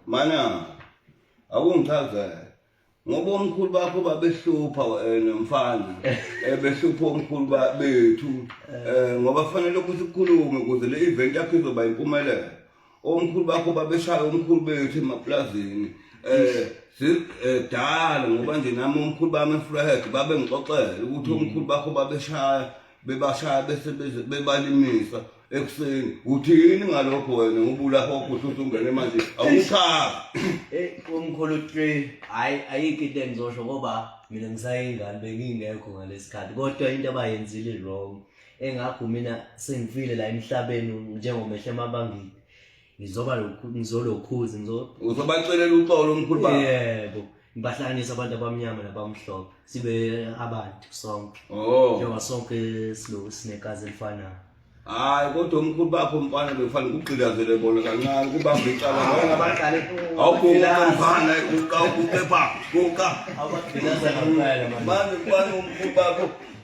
mana akungichaze ngoba omkhulu bakho babehlupha eh, nomfana eh, behlupha omkhulu bethu eh, ngoba kufanele ukuthi kukhulume ukuze le event yakho izoba impumelelo omkhulu bakho babeshaya omkhulu bethu emaplazini um dala ngoba nje nami omkhulu bami efrehek babengixoxele ukuthi omkhulu bakho babeshaya bebashaya bese bebalimisa ekuseni uthini ngalokho wena ngubula hokho usuthi ungene manje awuchazi Eh, umkhulu three hayi ayikho into engizosho ngoba mina ngisayingane bengingekho ngalesikhathi kodwa into abayenzile wrong engakho mina sengifile la emhlabeni njengomehle emabangini ngizoba lokhu ngizolokhuza ngizo uzobacelela uxolo lomkhulu baba yebo ngibahlanganisa abantu abamnyama nabamhlophe sibe abantu sonke oh njengoba sonke silo sinekazi elifanayo hayi kodwa umkhulu bakho mfana bekufanele ukugqilazele bona kancane kubamba icala bona abadlali awuguqa mfana uqa uguqe pha uqa abagqilaza ngampela manje manje umkhulu bakho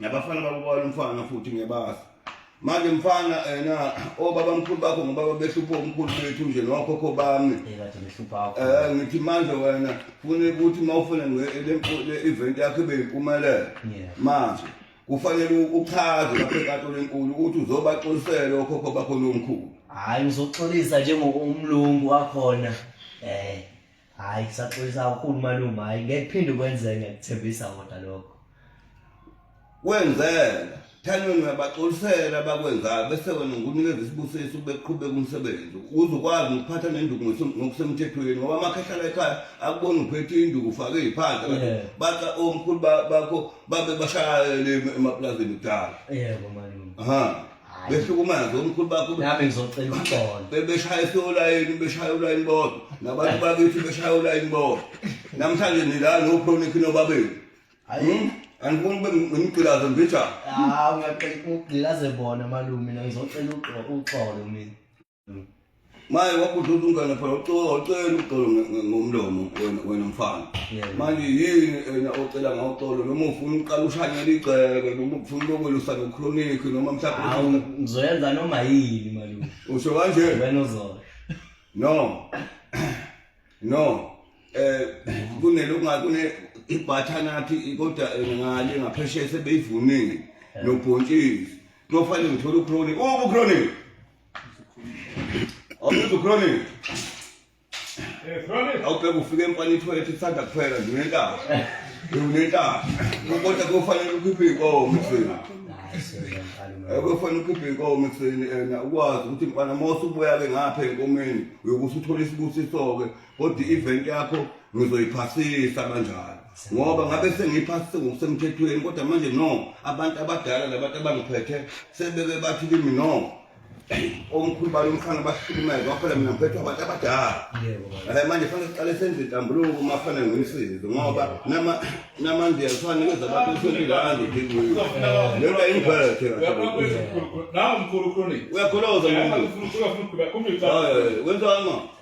nabafana bakubona umfana futhi ngebazi manje mfana ena obaba oh, mkhulu bakho ngobaba behlupha umkhulu bethu nje nokhokho bami eh ngithi manje wena fune ukuthi mawufune nge-event yakho ibe yimpumelelo manje kufanele uchaze lapho enkantolo enkulu ukuthi uzobaxolisela okhokho bakho lomkhulu hayi uzoxolisa njengokumlungu wakhona eh Hayi kusaxolisa kakhulu malume hayi ngeke phinde kwenzeke ngikuthembisa ngoda lokho. Kwenzeka thanweni uyabaxolisela abakwenzayo bese wena ngunikeza isibusiso beqhubeka umsebenzi uze ukwazi nokuphatha nenduku ngokusemthethweni ngoba amakhehlala ekhaya akubona uphethe induku ufake iy'phandla kanti Yeah. baca omkhulu ba- bakho babe bashayele emaplazini kudala yebo malume ha behlukumaze omkhulu bakho nami ngizocela uxolo bebeshaya esolayini beshaya ulayini bodwa nabantu bakithi beshaya ulayini bodwa namhlanje nila nochronik nobabeni hayi hmm? angifuni ube ngimgqilaze mbijana hawu ngiyaqela ukugqilaze bona malume ngizocela uxolo mina maye wabhuda ukuthi umngane phela ucela ucela uxolo ngomlomo wena wena mfana manje yini wena ocela ngawuxolo noma ufuna uqala ushanyela igceke noma ufuna lokwelusa nochronic noma mhlawumbe ngizoyenza noma yini malume usho kanje wena uzona no no eh kunelokungathi ibhathanathi kodwa ngale ngaphesheya sebeyivunile nobhontshisi kuyofanele ngithole uchronic uchronic Awuphezulu Chronic. Eh Chronic. Awubheka ufike emfana ithoyilethi ithanda kuphela nje unentaba. Unentaba. Kodwa kufanele ukhiphe inkomo ekuseni. Akufanele ukhiphe inkomo ekuseni ena ukwazi ukuthi mfana mose ubuya ke ngapha enkomeni uyokuthi uthole isibusiso ke kodwa i-event yakho ngizoyiphasisa kanjalo ngoba ngabe sengiyiphasise ngokusemthethweni kodwa manje no abantu abadala labantu abangiphethe sebebe bathi kimi no omkhulu balo mfana bahlukumeza waphela mina ngiphethe abantu abadala ala manje fanele siqale senze intambuluko uma fanele ngimsize ngoba nama namanje yafana kweza abantu usentile anje ngikuyo lento ayingiphethe nawo mkhulu chronic uyakholoza mkhulu ufuna ukuba kumbe cha wenza ngani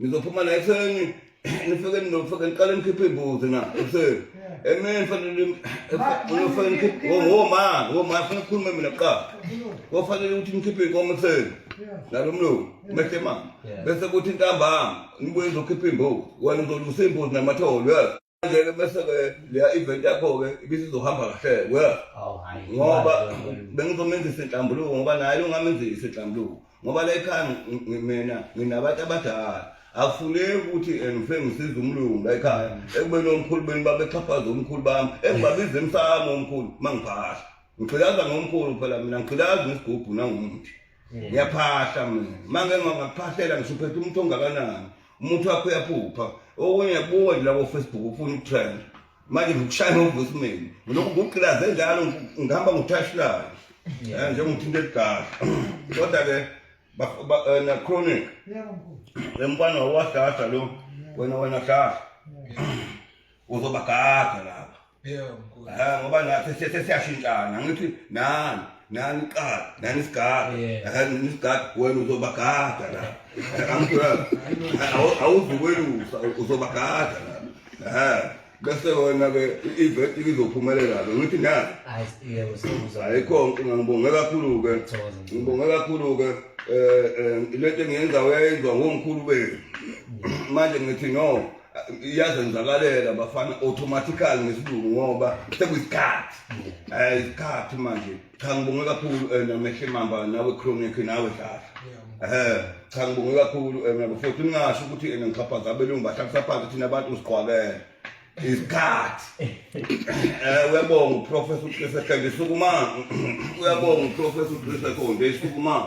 ngizophuma la ekuseni nifike nizofike niqale nikhiphe iy'mbuzi na ekuseni emini fanele nifike nikhiphe ngoma ngoma funa kukhulume mina kuqala kofanele ukuthi nikhiphe iy'nkomo ekuseni nalo mlungu mehle mama bese kuthi ntambama nibuye nizokhipha iy'mbuzi wena uzolusa iy'mbuzi namatholo Ngeke bese ke leya event yakho ke ibisizohamba kahle we Oh, hhayi. ngoba bengizomenzisa inhlambuluko ngoba naye ungamenzisa inhlambuluko ngoba la ekhaya ngi- ngi- mina nginabantu abadala akufuneki ukuthi eh, ngifike ngisize umlungu la ekhaya ekubeni omkhulu beni babexhaphaza omkhulu bami engibabiza emsamo omkhulu uma ngiphahla ngigqilaza ngomkhulu phela mina ngigqilaza ngesigubhu nangumuthi ngiyaphahla mina uma ngengakuphahlela ngisho uphethe umuntu ongakanani umuntu wakho uyaphupha okunye buka nje labo Facebook ufuna ukutrend manje ngikushaya ngovoicemail ngilokhu ngugqilaze njalo ngihamba ngithashilayo eh, njengokuthi into eligala kodwa ke eh, na chronic emfana wawadlahla lo wena wena dlahla uzobagaga lapha yebo mkhulu ha ngoba nathi sesiyashintshana ngithi nani nani qala nani sigada akani nisigada wena uzobagada la angithola awuzukwelusa uzobagada la ha bese wena ke iveti izophumelela ke ngithi na ayikho nkinga ngibonge kakhulu ke ngibonge kakhulu ke eh, eh lento engiyenza uyayizwa ngomkhulu benu manje ngithi no iyazenzakalela bafana automatically ngesilungu ngoba sekuyisikhathi um isikhathi manje cha ngibonge kakhulu um namehle mamba nawe chronic nawe dlala um cha ngibonge kakhulu um nabo futhi ningasho ukuthi ena ngixhaphaza abelungu bahlabisa phansi thina abantu siqwakele isikhathi um uyabonga uprofesa uqise khande sukumani uyabonga uprofesa uqise khonde sukumani